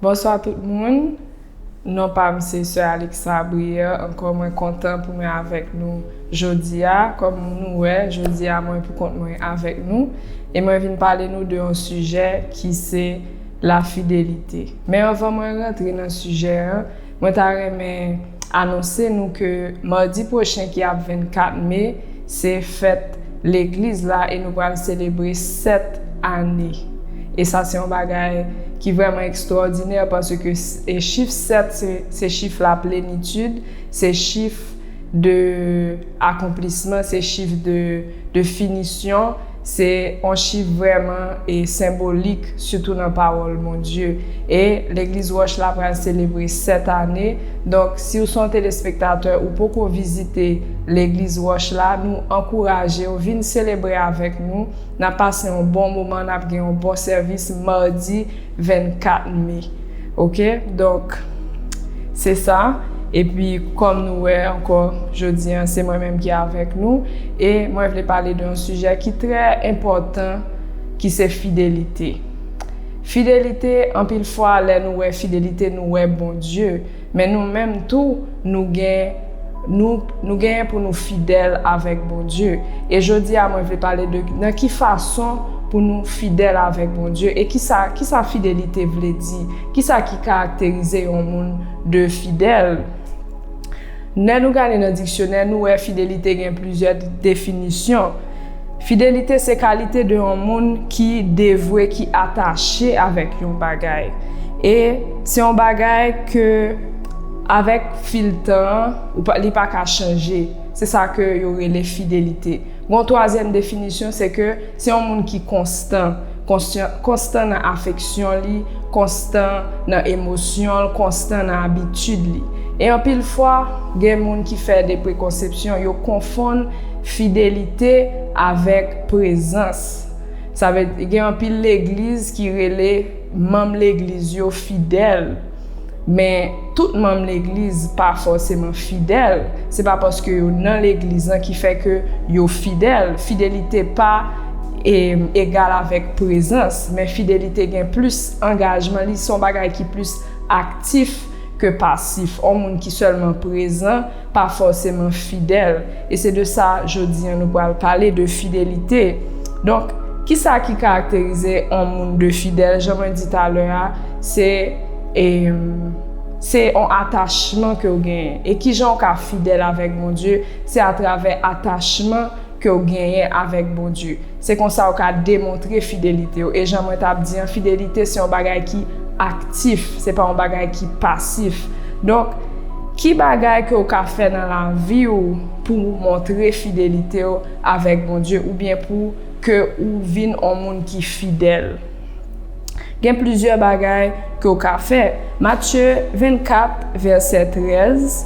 Bonswa tout moun, non pa m se sè Aliksa Briè, ankò mwen kontan pou mwen avèk nou jodi a, kòm nou wè jodi a mwen pou kont mwen avèk nou, e mwen vin pale nou de yon sijè ki se. La fidelite. Men anvan mwen rantre nan sijè an, mwen ta renmen anonse nou ke madi pwochen ki ap 24 me, se fèt legliz la e nou pral selebre 7 ane. E sa se yon bagay ki vrèman ekstwòdinè paske chif 7 se chif la plenitid, se chif de akonplisman, se chif de. De finisyon, se yon chif vrèman e senbolik sitou nan pawòl Bondye. E, Legliz Wòch la pral selebre 7 ane, donk si w son telespektatè ou poko vizite Legliz Wòch la, nou ankouraje w vin selebre avèk nou, nap pase yon bon moman, nap gen yon bon sèvis Mardi, 24 me ok donk se sa epi kòm nou wè ankò jodi an se mwen menm ki avèk nou e mwen vle pale de yon sijè ki trè enpòtan ki se fidelite fidelite anpil fwa lè nou wè fidelite nou wè Bondye Men nou menm tou, nou gen, nou, nou genyen pou nou fidèl avèk Bondye. E jodi a mwen vle pale de nan ki fason pou nou fidèl avèk Bondye e kisa, kisa fidelite vle di, kisa ki karakterize yon moun de fidèl. Nè nou gade nan diksyonè nou wè fidelite gen plizyè definisyon. Fidelite se kalite de yon moun ki devwe, ki atache avèk yon bagay. E se yon bagay ke avèk fil tan an, ou pa, li pa ka chanje. Se sa ke yo rele fidelite. Gen yon twazyèm definisyon, se ke se yon moun ki konstan. Konstan, konstan nan afeksyon li, konstan nan emosyon l, konstan nan abitid li. E anpil fwa, gen moun ki fè de prekonsepsyon, yo konfonn Fidelite avèk prezans. Sa vle di gen anpil legliz ki rele manm legliz yo fidèl, men tout manm legliz pa fòseman fidèl. Se pa paske yo nan legliz lan ki fè ke yo fidèl. Fidelite pa egal avèk prezans, men fidelite gen plis angajman, li se yon bagay ki plis aktif ke pasif. On moun ki sèlman prezan. pa fòseman fidèl, e se de sa jodi an nou pral pale, de fidelite. Donk, ki sa ki karakterize on moun de fidèl? Jan mwen di talè a, se, e, se on atachman ke ou genyen. E ki jan ou ka fidèl avèk Bondye? Se atravè atachman. ke w genyen avèk Bondye. Se konsa w ka demontre fidelite w. E jan mwen t ap di an, fidelite se yon bagay ki aktif, se pa yon bagay ki pasif. Donk, ki bagay ke w ka fè nan lavi w pou w montre fidelite w avèk Bondye oubyen pou ke w vin yon moun ki fidèl? Gen plizyè bagay ke w ka fè. Matye 24 vèsè 13,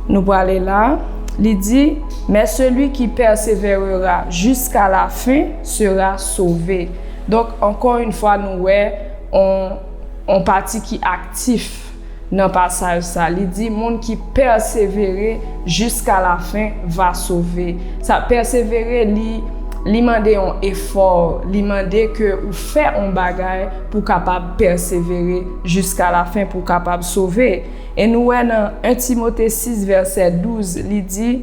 nou prale la, li di, Men seli ki pèseverera jiska lafen sera sove. Donk, ankò yn fwa nou wè on pati ki aktif. Nan pasaj sa, li di moun ki pèsevere jiska lafen va sove. Sa pèsevere li, li mande yon efò, li mande ke ou fè yon bagay pou w kapab pèsevere jiska lafen, pou w kapab sove. E nou wè nan 1 Timote 6 vèsè 12, li di.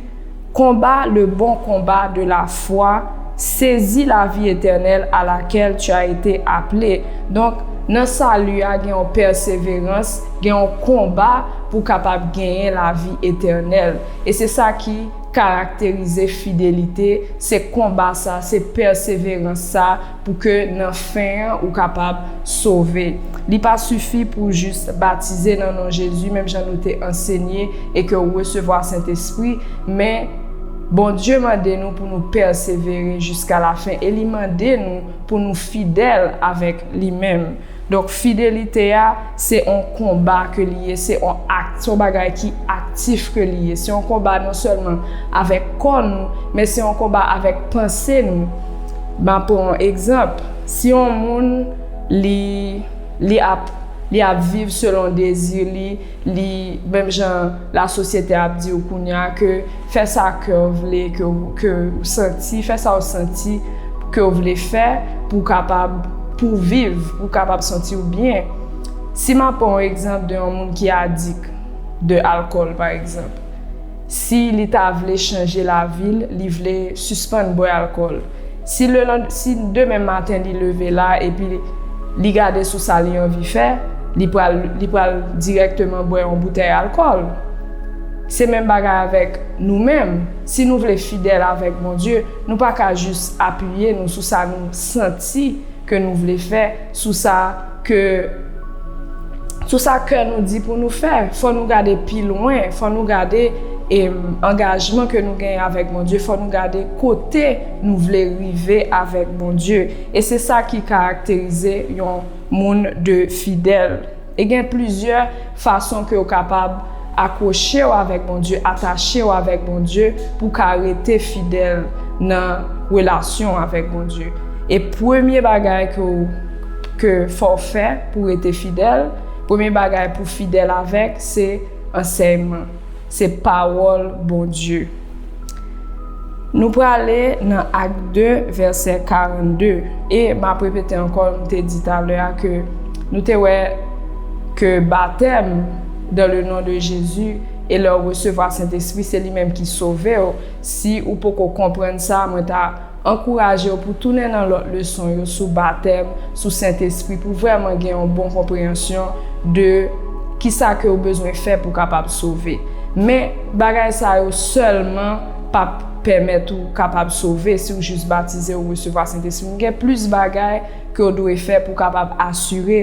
Konba le bon konba de la fwa, sezi lavi etènèl a lakèl tu as ete aple. Donk, nan sali a gen yon pèseverans, gen yon konba pou kapab genyen lavi etènèl. E se sa ki karakterize fidelite, se konba sa, se pèseverans sa Pou ke nan fen an ou kapab sove. Li pa sifi pou w jis batize nan non Jezi menm jan nou te ansenye e ke ou resevwa Sentespri, men Bondye mande nou pou nou pèsevere jiskalafen e li mande nou pou nou fidèl avèk Li menm. Donk fidelite a, se yon konba ke li ye, se yon act, se yon bagay ki aktif ke li ye. Se yon konba non sèlman avèk kò nou, men se yon konba avèk panse nou. M'a pran yon egzanp, si yon moun li, li ap, li ap viv selon dezi li, Li menm jan la sosyete ap di w kounye a ke fè sa kè w vle ke ke w santi, fè sa w santi ke w vle fè pou w kapab pou w viv, pou w kapab santi w byen. Si m ap pran yon egzanp de yon moun ki adik de alkòl pa egzanp. Si li ta vle chanje lavi l, li vle sispann bwè alkòl. Si si demen maten li leve la epi li gade sou sa li anvi fè, li pral li pral dirèkteman bwè yon boutèy alkòl. Se menm bagay avèk nou menm, si nou vle fidèl avèk Bondye, nou pa ka jis apiye nou sou sa nou santi, ke nou vle fè, sou sa ke sou sa kè nou di pou nou fè. Fò nou gade pi lwen, fò nou gade e angajman ke nou genyen avèk Bondye, fò nou gade kote nou vle rive avèk Bondye. E se sa ki karakterize yon moun de fidèl. E gen plizyè fason ke ou kapab akwoche ou avèk Bondye, atache ou avèk Bondye pou ka rete fidèl nan relasyon ou avèk Bondye. E premye bagay ke ou ke fò ou fè pou rete fidèl, premye bagay pou fidèl avèk se ansèyman. Se pawòl Bondye. Nou prale nan Ak 2 vèsè 42 e map repete ankò m te di talè a ke nou te wè ke batèm dan le non de Jezi e lèw resevwa Sentespri se li menm ki sovew si ou poko konprann sa mwen ta Ankouraje yo pou tounen nan lòt leson yo sou batèm, sou Sentespri pou vrèman gen yon bon konpreyansyon de kisa ke ou bezwen fè pou kapab sove. Men, bagay sa yo sèlman pap pèmèt ou kapab sove si ou jis batize ou resevwa Sentespri. Gen plis bagay ke ou dwe fè pou kapab asire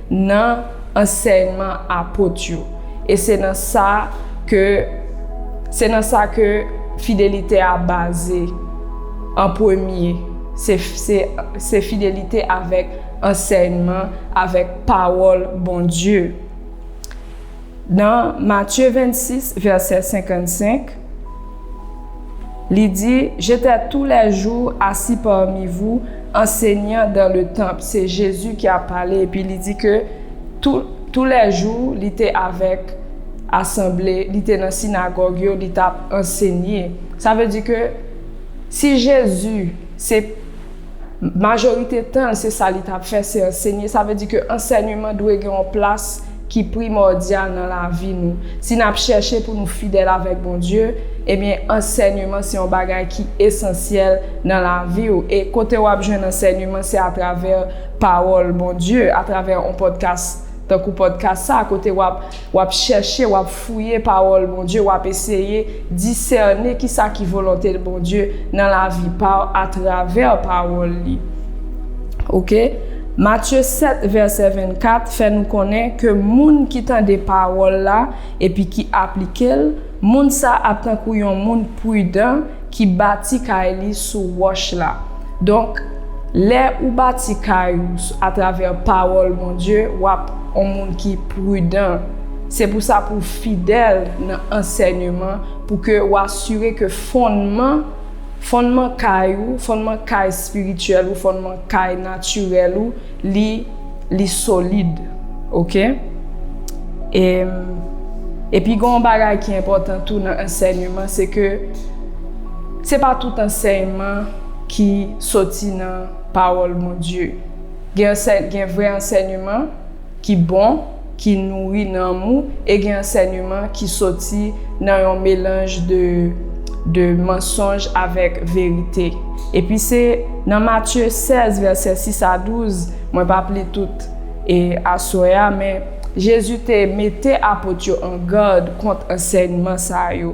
nan ansèyman apot yo, e se nan sa ke se nan sa ke fidelite a baze an premye, se se se fidelite avèk ansèyman, avèk pawòl Bondye. Nan Matye 26, vèsè 55, li di, J'étais tous les jours assis parmi vous, enseignant dans le temple. Se Jezi ki ap pale, epi li di ke tou, tou lè jou, li te avèk asanble, li te nan sinagòg yo, li t ap ansenye. Sa vle di ke si Jezi se. Majorite tan l, se sa li t ap fè, se ansenye. Sa vle di ke ansènyman dwe gen yon plas ki primòdyal nan lavi nou. Si n ap chèche pou nou fidèl avèk Bondye, ebyen, ansènyman se yon bagay ki esansyèl nan lavi ou. E kote w ap jwenn ansènyman, se atravè pawòl Bondye, atravè yon pòdkas tankou pòdkas sa a, kote w ap. W ap chèche, w ap fouye pawòl Bondye, w ap eseye disène kisa ki volonte Bondye nan lavi pa w atravè pawòl li. Ok. Matye 7 vèsè 24 fè nou konnen ke moun ki tande pawòl la epi ki aplike l, moun sa ap tankou yon moun prudan Ki bati kay li sou wòch la. Donk, lè ou bati kay ou atravè pawòl Bondye, w ap on moun ki pridan. Se pou sa pou w fidèl nan ansènyeman pou ke w asire ke fonnman, fonnman kay ou, fonnman kay espirityèl ou, fonnman kay natirèl ou, Li li solid ok. E epi gen yon bagay ki enpòtan tou nan ansèyman se ke se pa tout ansèyman ki soti nan pawòl Bondye. Gen ansè gen vrè ansèyman. ki bon, ki nouri nanm ou e gen ansèneman ki soti nan yon melanj de de mansonj avèk verite. Epi se nan Matye 16 vèsè 6 a 12, mwen p ap li tout e aswè a men Jezi te mete apot yo an gad kont ansèyman sa yo.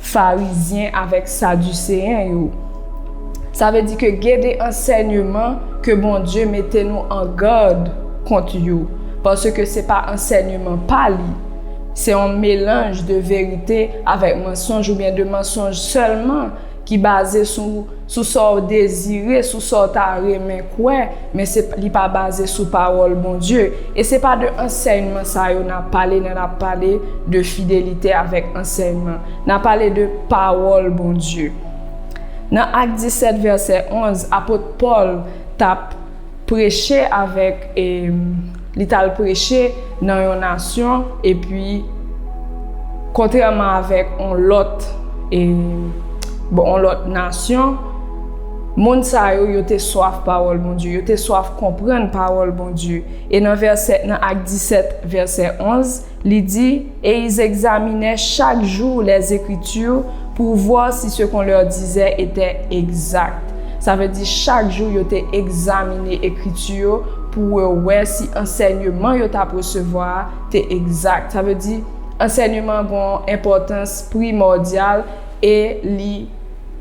Farizyen avèk Sadiseyen yo. Sa vle di ke gen de ansènyeman ke Bondye mete nou an gad kont yo, paske se pa ansènyeman pa Li. Se yon melanj de verite avèk mansonj oubyen de mansonj sèlman ki baze sou. sou sa w dezire, sou sa w ta renmen kwè, men se li pa baze sou pawòl Bondye. E se pa de ansèyman sa yo n ap pale lè n ap pale de fidelite avèk ansèyman. N ap pale de pawòl Bondye. Nan Ak 17, vèsè 11, apot Pòl t ap. preche avèk e li t al preche nan yon nasyon epi kontrèman avèk on lòt e bon on lòt nasyon moun sa yo yo te swaf pawòl Bondye yo te swaf konprann pawòl Bondye e nan vèsè nan ak 17 vèsè 11 Li di, Et ils examinaient chaque jour les Écritures pour voir si ce qu'on leur disait était exact. Sa vle di chak jou yo te egzamine ekriti yo pou yo wè si ansènyeman yo t ap resevwa a te egzak. Sa vle di, ansènyeman an gen yon enpòtans primòdyal e li.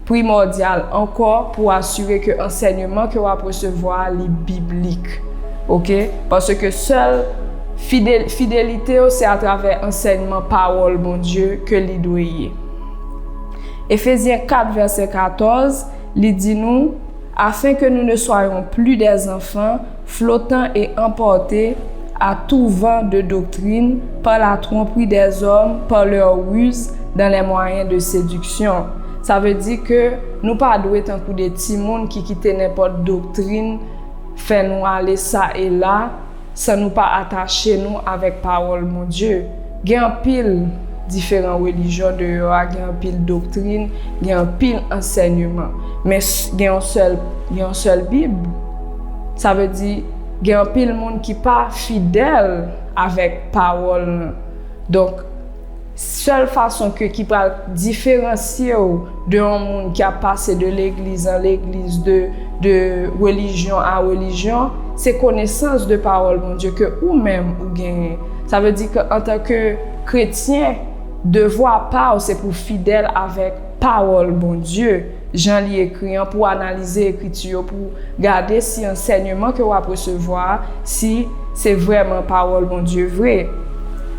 Primòdyal ankò pou w asire ke ansènyeman ke w ap resevwa a li biblik. Ok? Paske sèl Fidelite yo se atravè ansènman pawòl Bondye ke li dwe ye. Efezyen 4 vèsè 14, li di nou, Afenke nou ne soyons plus des enfants, flotan e anpòte a tou van de doktrin par la trompri des hommes par leurs ruses dans les moyens de seduction sa vle di ke nou pa dwe tankou de timoun ki kite nenpòt doktrin fè nou ale sa e la san nou pa atache nou avèk pawòl Bondye gen anpil diferan relijyon deyò a gen anpil doktrin gen anpil ansènyeman men gen yon sèl bib. Sa vle di, gen anpil moun ki pa fidèl avèk pawòl l. Donk, sèl fason ke ki pral diferansye w de yon moun ki ap pase de legliz an legliz, de de relijyon a relijyon, se konesans de pawòl Bondye ke ou menm ou genyen. Sa vle di ke antanke kretyen, devwa pa w se pou w fidèl avèk pawòl Bondye. jan li ekri an, pou w analize ekriti yo, pou w gade si ansènyeman ke w ap resevwa a, si se vrèman pawòl Bondye vre.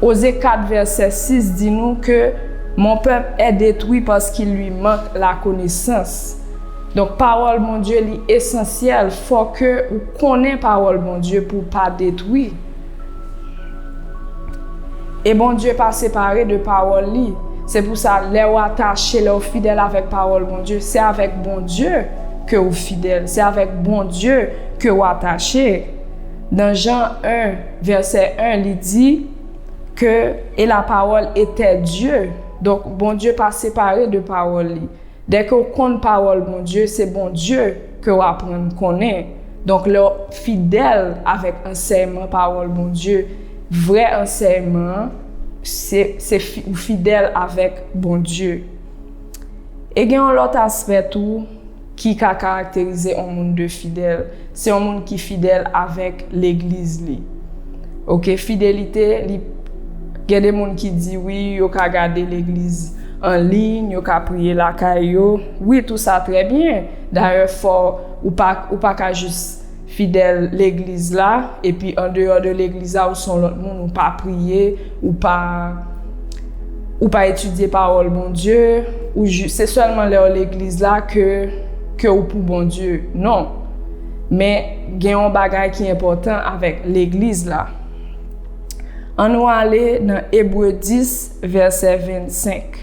Oze 4 vèsè 6 di nou ke Mon peuple est détruit parce qu'il lui manque la connaissance. Donk pawòl Bondye li esansyèl, fò ke ou konnen pawòl Bondye pou w pa detwi. E Bondye pa separe de pawòl li. Se pou sa lèw atache, lèw fidèl avèk pawòl Bondye, se avèk Bondye kew fidèl, se avèk Bondye kew atache. Nan Jan 1 vèsè 1 li di ke e la pawòl etè Dye. Donk Bondye pa separe de pawòl li. Dèke w konn pawòl Bondye, se Bondye ke w aprann konnen. Donk lè w fidèl avèk ansèyman pawòl Bondye, vrè ansèyman an, se, se fi, ou fidèl avèk Bondye. E gen yon lòt aspè tou ki ka karakterize on moun de fidèl. Se yon moun ki fidèl avèk legliz li ok fidelite li gen de moun ki di wi yo ka gade legliz an liyn yo ka priye lakay yo wi tou sa trè byen dayè fò ou pa ou pa ka jis fidèl legliz la epi andeyò de legliz la ou son lòt moun ou pa priye Ou pa ou pa etidye pawòl Bondye, ou jis se sèlman lè ou legliz la ke ke ou pou Bondye. Non. Men gen yon bagay ki enpòtan avèk legliz la. An nou ale nan Ebre 10 vèsè 25.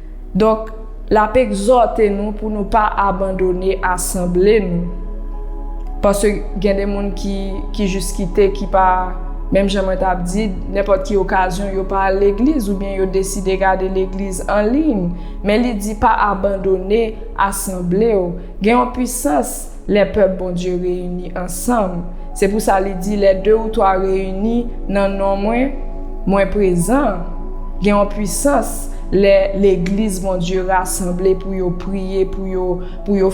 Donk, l ap egzòte nou pou nou pa abandone asanble nou. Paske gen de moun ki jis kite, ki pa, menm jan mwen t ap di, nenpòt ki okazyon yo pa al legliz oubyen yo deside gade legliz an liy. Men li di pa abandone asanble w. Gen yon pisans. Lè pèp Bondye reyini ansanm. Se pou sa li di, lè de ou twa reyini nan non mwen, mwen prezan. Gen yon pwisans lè legliz Bondye rasanble pou yo priye, pou yo, pou yo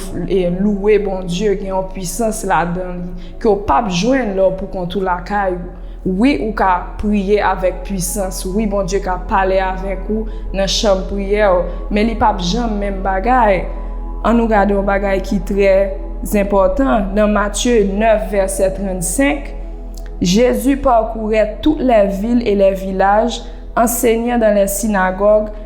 louwe Bondye, gen yon pwisans ladan li ke w pap jwenn lè w poukont ou lakay ou. Wi ou ka priye avèk pwisans wi Bondye ka pale avèk ou nan chanm priyèw men li pap janm menm bagay an nou gade yon bagay ki trè zenpòtan nan matye 9 vèsè 35 Jezi pakourè tout lè vil e lè vilaj ansenyan dan lè sinagòg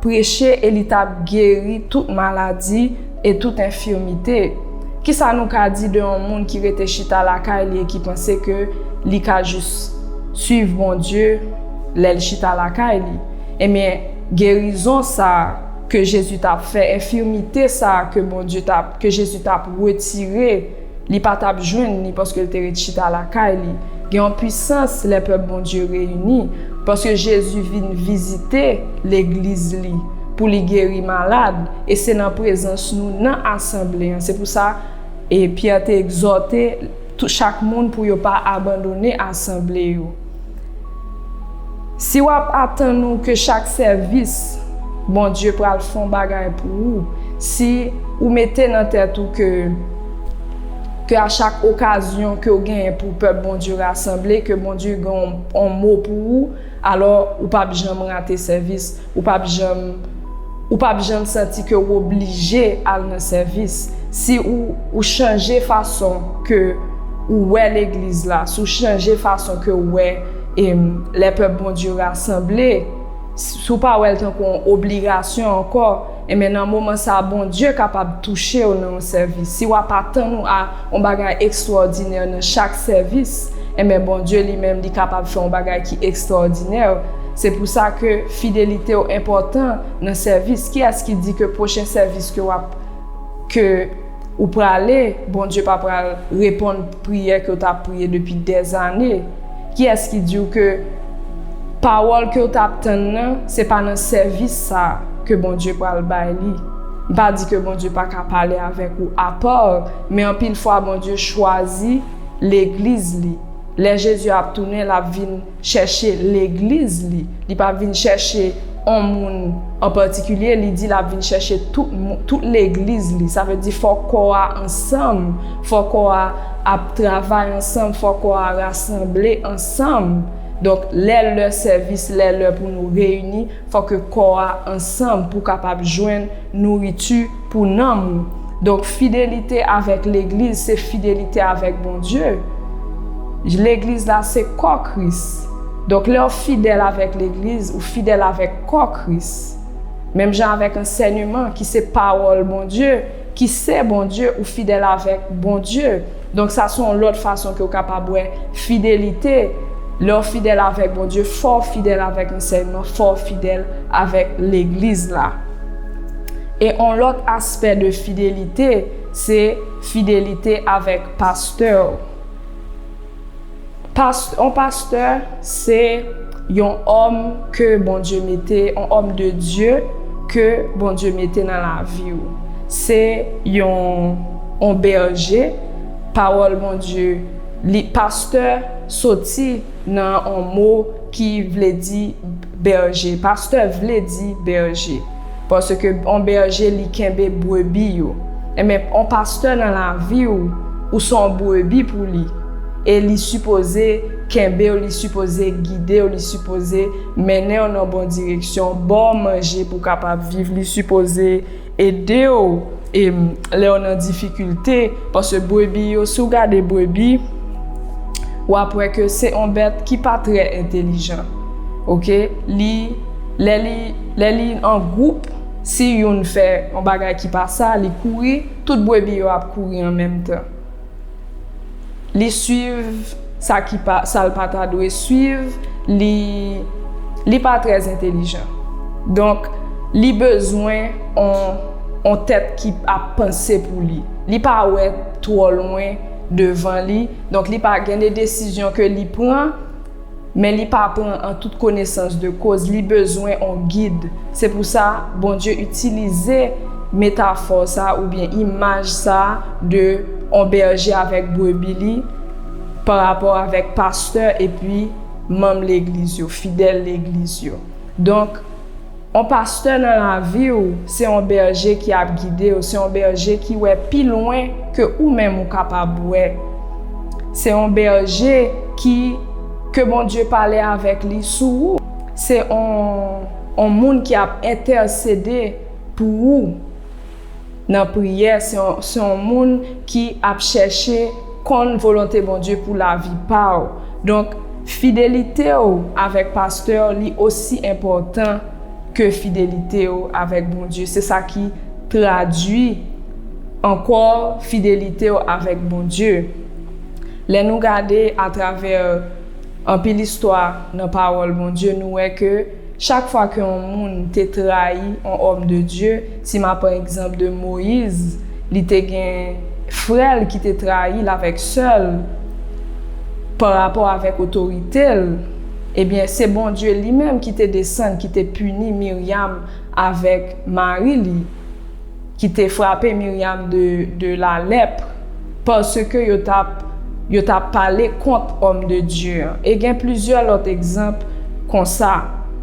Preche e li t ap geri tout maladi e tout enfimite. Kisa nou ka di de yon moun ki rete chita lakay li e ki panse ke li ka jis swiv Bondye lè l chita lakay li? Ebyen, gerizon sa a ke Jezi t ap fè, enfimite sa a ke Bondye t ap, ke Jezi t ap retire, Li pa t ap jwenn li paske l te ret chita lakay li. Gen yon pisans lè pèp Bondye reyini, paske Jezi vin vizite Legliz li pou li geri malad, e se nan prezans nou nan asanble an. Se pou sa, Pyè te egzòte chak moun pou yo pa abandone asanble yo. Si wap atann ou ke chak sèvis Bondye pral fon bagay pou ou, si ou mete nan tèt ou ke ke a chak okazyon ke ou genyen pou pèp Bondye rasanble ke Bondye gen yon mo pou ou, alò ou pap janm rate sèvis. Ou p ap janm Ou p ap janm santi ke w oblije al nan sèvis si ou ou chanje fason ke ou wè legliz la, si w chanje fason ke w wè lè pèp Bondye rasanble, si w pa wè l tankou yon obligasyon ankò. Enben nan moman sa a Bondye kapab touche w nan yon sèvis. Si w ap atann ou a yon bagay ekstwòdinè nan chak sèvis, enben Bondye li menm li kapab fè yon bagay ki ekstwòdinè. Se pou sa ke fidelite w enpòtan nan sèvis. Kiyès ki di ke pwochen sèvis ke w ap ke. Ou prale, Bondye pa pral reponn priyè kew tap priye depi dè zane, kiyès ki diw ke pawòl kew tap tann nan se pa nan sèvis sa ke Bondye pral bay li, m pa di ke Bondye paka pale avèk ou apò, men anpil fwa Bondye chwazi legliz li, lè Jezi ap tounen lap vin. chèche legliz li, li pa vin chèche on moun an patikilye, li di lap vin chèche tout moun, tout legliz li, sa vle di fò kò a ansanm, fò kò a ap travay ansanm, fò kò a rasanble ansanm, donk lè lè sèvis, lè lè pou nou reyini, fò ke kò a ansanm pou kapab jwenn. nouriti pou nanm ou. Donk fidelite avèk legliz se fidelite avèk Bondye. Legliz la se kò Kris. Donk lè ou fidèl avèk legliz, ou fidèl avèk kò Kris. Menm jan avèk ansèneman ki se pawòl Bondye, ki se Bondye ou fidèl avèk Bondye. Donk sa se yon lòt fason ke w kapab wè fidelite, lè w fidèl avèk Bondye, fò w fidèl avèk ansèyman, fò w fidèl avèk Legliz la. E yon lòt aspè de fidelite, se fidelite avèk pastè w. Past on pastè se Yon òm ke Bondye mete on òm de Dye ke Bondye mete nan laviw se Yon on bèje pawòl Bondye li pastè soti nan on mo ki vle di bèje pastè vle di bèje. Paske on bèje li kenbe brebi yo. Enben on pastè nan lavi ou, ou son brebi pou li. E li sipoze kenbe w, li sipoze gide w, li sipoze mennen w nan bon direksyon, ba w manje pou w kapab viv, li sipoze ede w e lè w nan difikilte. Paske brebi yo, si w gade brebi, w ap wè ke se on bèt ki pa trè entelijan. Ok? Li. Lè li, lè li an gwoup, si youn fè yon bagay ki pa sa, li kouri, tout brebi yo ap kouri an menm tan. Li swiv sa ki pa, sa l pa ta dwe swiv, li, li pa trè entelijan. Donk, li bezwen on, on tèt ki ap panse pou li. Li pa wè twò lwen devan li, donk li pa gen de desizyon ke li pran. Men li pa pran an tout konesans de koz li bezwen on gid. Se pou sa, Bondye itilize metafò sa oubyen imaj sa de on bèje avèk brebi li pa rapò avèk pastè epi manm legliz yo, fidèl legliz yo. Donk. On pastè nan laviw se on bèje ki ap gidew se on bèje ki wè pi lwen ke ou menm ou kapab wè se on bèje ki ke Bondye pale avèk li sou ou se on on moun ki ap entèsede pou ou. nan priyè, se yon moun ki ap chèche konn volonte Bondye pou lavi pa w. Donk, fidelite w avèk pastè w li osi enpòtan ke fidelite w avèk Bondye. Se sa ki tradui ankò fidelite w avèk Bondye. Lè nou gade atravè anpil istwa nan pawòl Bondye, nou wè ke. Chak fwa ke yon moun te trayi yon òm de Dye, si ma pran egzanp de Moyiz, li te gen frè l ki te trayi l avèk sè l pa rapò avèk otorite l, ebyen se Bondye li menm ki te desann ki te pini Miryam avèk mari li. ki te frape Miriam de de la lèpr paske yo t ap yo t ap pale kont òm de Dye an e gen plizyè lòt egzanp konsa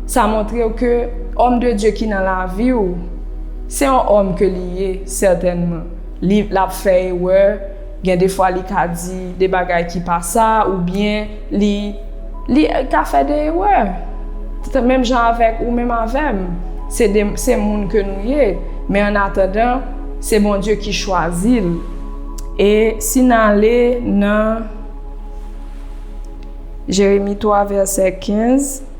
sa montre w ke òm de Dye ki nan lavi w se yon òm ke li ye sètènman li l ap fè erè Gen de fwa li ka di de bagay ki pa sa oubyen li li ka fè de erè. Menm jan avèk ou menm avè m, se de se moun ke nou ye, men an atandan se Bondye ki chwazi l. E si n ale nan Jeremi 3 vèsè 15.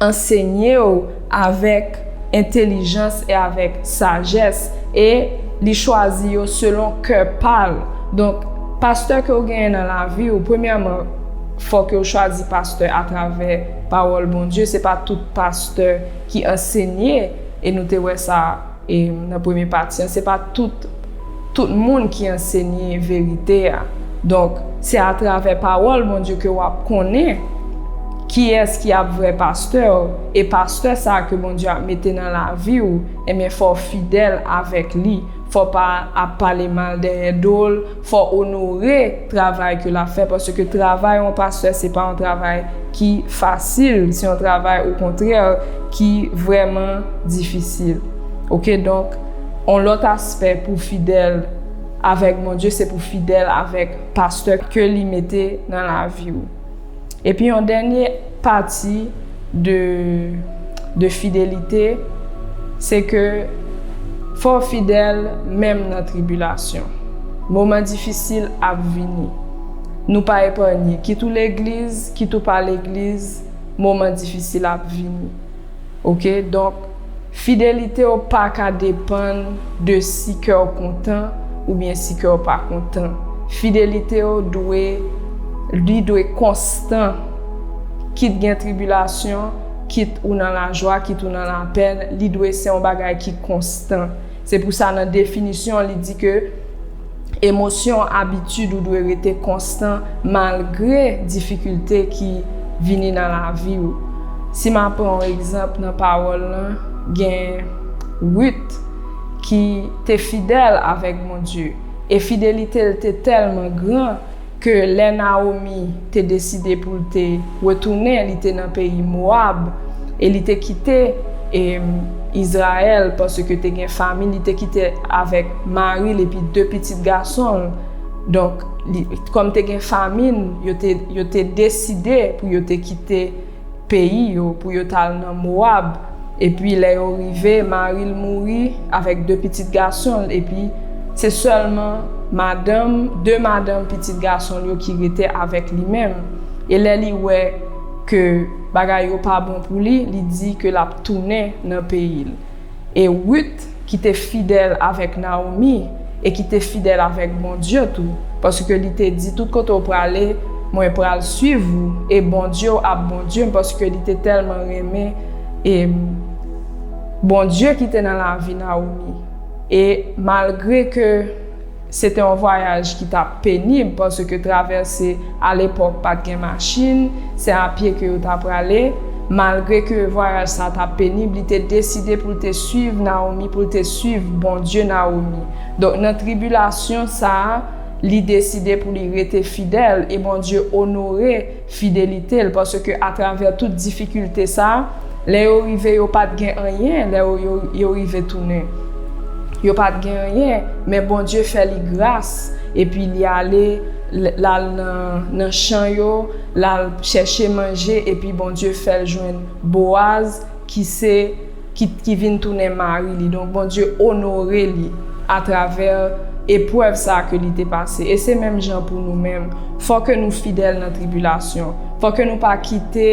ansenye w avèk entelijans e avèk sajès e li chwazi yo selon kè pa l donk pastè ke w genyen nan lavi w premyèman fò ke w chwazi pastè atravè pawòl Bondye se pa tout pastè ki ansenye e nou te wè sa. E nan premye pati an, se pa tout tout moun ki ansenye verite a. Donk, se atravè pawòl Bondye ke w ap konnen kiyès ki ap vrè pastè w, e pastè sa a ke Bondye ap mete nan lavi w, enben fò w fidèl avèk li, fò w pa ap pale mal dèyè do l, Fò onore travay ke lap fè paske travay yon pastè se pa yon travay ki fasil se yon travay o kontrè ki vrèman difisil ok donk yon lòt aspè pou fidèl avèk Bondye se pou fidèl avèk pastè ke li mete nan laviw. Epi yon dènye pati de de fidelite se ke fò w fidèl menm nan tribilasyon. Moman difisil ap vini. Nou pa epanye, kit ou legliz, kit ou pa legliz, moman difisil ap vini. Ok donk fidelite w pa ka depann de si kè w kontan oubyen si kè w pa kontan fidelite w dwe li dwe konstan kit gen tribilasyon kit ou nan lajwa kit ou nan lapèn li dwe se yon bagay ki konstan se pou sa nan definisyon li di ke Emosyon, abitid ou dwe rete konstan malgre difikilte ki vini nan lavi ou. Si m ap pran yon egzanp nan pawòl lan, gen Rit ki te fidèl avèk Bondye e fidelite l te tèlman gran, ke lè Nawomi te deside pou l te retounen, li te nan peyi Mowab, e li te kite Izrayèl, paske te gen famin, li te kite avèk mari l epi de pitit gason l, donk, kòm te gen famin, yo te deside pou yo te kite. peyi yo pou yo t al nan Mowab. Epi, lè yo rive, mari l mouri avèk de pitit gason l, epi, se sèlman madanm, de madanm pitit gason l yo ki rete avèk li menm. E lè li wè ke bagay yo pa bon pou li, li di ke l ap tounen nan peyi l. E Rut ki te fidèl avèk Naomi e ki te fidèl avèk Bondye tou, paske li te di, tout kote ou prale, mwen pral swiv ou, e Bondye ou ap Bondye m, paske li te tèlman renmen e Bondye ki te nan lavi Naomi. E malgre ke. Se te yon vwayaj ki t ap penib paske travèse alepòk pa t gen machin, se apye ke yo ta prale. Malgre ke vwayaj sa a t ap penib, li te deside pou l te suiv Nawomi, pou l te suiv Bondye Nawomi. Donk nan tribilasyon sa a, li deside pou li rete fidèl e Bondye onore. Fidelite l, paske atravè tout difikilte sa, lè yo rive yo pa t gen anyen, lè yo rive tounen yo pa t gen anyen, men Bondye fè li gras, epi li ale l al nan chan yo, l al chèche manje, epi Bondye fè l jwenn Boaz ki se. ki ki vin tounen mari li donk Bondye onore li atravè eprèv sa ke li te pase e se menm jan pou nou menm fò ke nou fidèl nan tribilasyon fò ke nou pa kite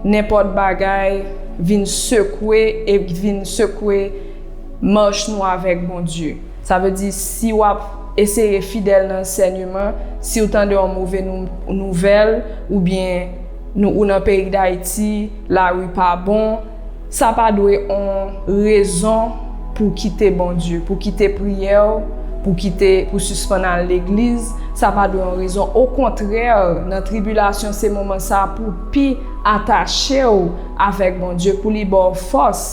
nenpòt bagay vin sekwe e vin sekwe mach nou avèk Bondye sa vle di si wap eseye fidèl nan ansènyeman siw tande yon move nouvèl oubyen ou nan peyi dayiti lari pa bon. Sa pa dwe on rezon pou kite Bondye, pou kite priyè w, pou kite, pou sispann al legliz, sa pa dwe on rezon, okontrè nan tribilasyon se moman sa pou pi atache w avèk Bondye pou li ba w fòs.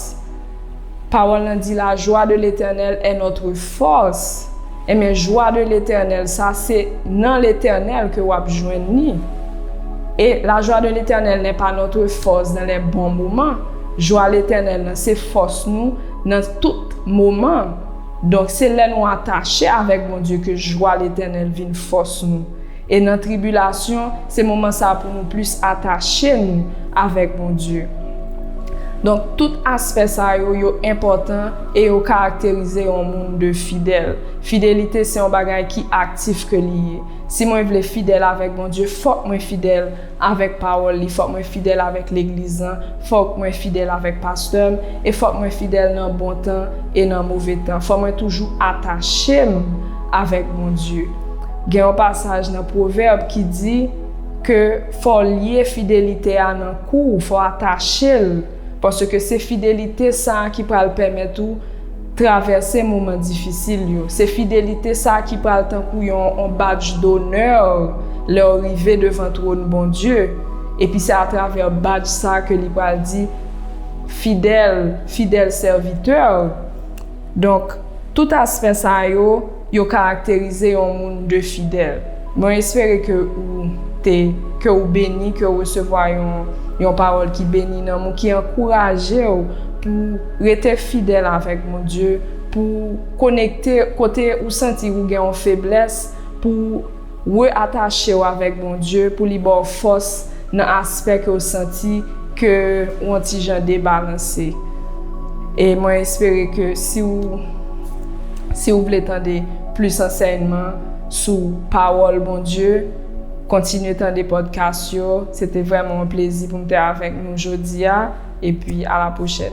Pawòl lan di la jwa de letènèl è nòtre fòs. Enben jwa de Letènèl sa se nan Letènèl ke w'ap jwenn ni, e la joie de l'Éternel n'est pas notre force dans les bons moments, jwa Letènèl nan se fòs nou nan tout moman, donk se lè nou atache avèk Bondye ke jwa Letènèl vin fòs nou. E nan tribilasyon, se moman sa pou nou plis atache nou avèk Bondye. Donk, tout aspè sa yo, yo enpòtan e yo karakterize yon moun de fidèl. Fidelite se yon bagay ki aktif ke li ye. Si mwen vle fidèl avèk Bondye, fòk mwen fidèl Avèk pawòl li, fòk mwen fidèl avèk legliz lan, fòk mwen fidèl avèk pastè m, e fòk mwen fidèl nan bon tan e nan move tan. Fòk mwen toujou atache m avèk Bondye. Gen yon pasaj nan Pwovèb ki di ke fò w lye fidelite a nan kou w, fò w atache l. Paske se fidelite sa a ki pral pèmèt ou travèse moman difisil yo. Se fidelite sa a ki pral tankou yon badj donè lè w rive devan twòn Bondye, epi se atravè badj sa a ke li pral di, Fidèl, fidèl sèvitè, Donk, tout aspè sa yo, yo karakterize yon moun de fidèl. Mwen espere ke ou te, ke ou beni, ke ou resevwa yon, yon pawòl ki beni nanm ou, ki ankouraje ou pou ou rete fidèl avèk Bondye, pou ou konekte kote ou santi ou gen yon feblès, pou ou. Re atache w avèk Bondye pou li ba w fòs nan aspè ke w santi ke w yon ti jan debalanse. E mwen espere ke si w si w vle tande plis ansèyman sou pawòl Bondye, kontinye tande podcast yo. Se te vrèman yon plezi pou m te avèk nou jodi a. Epi a la pwochèn.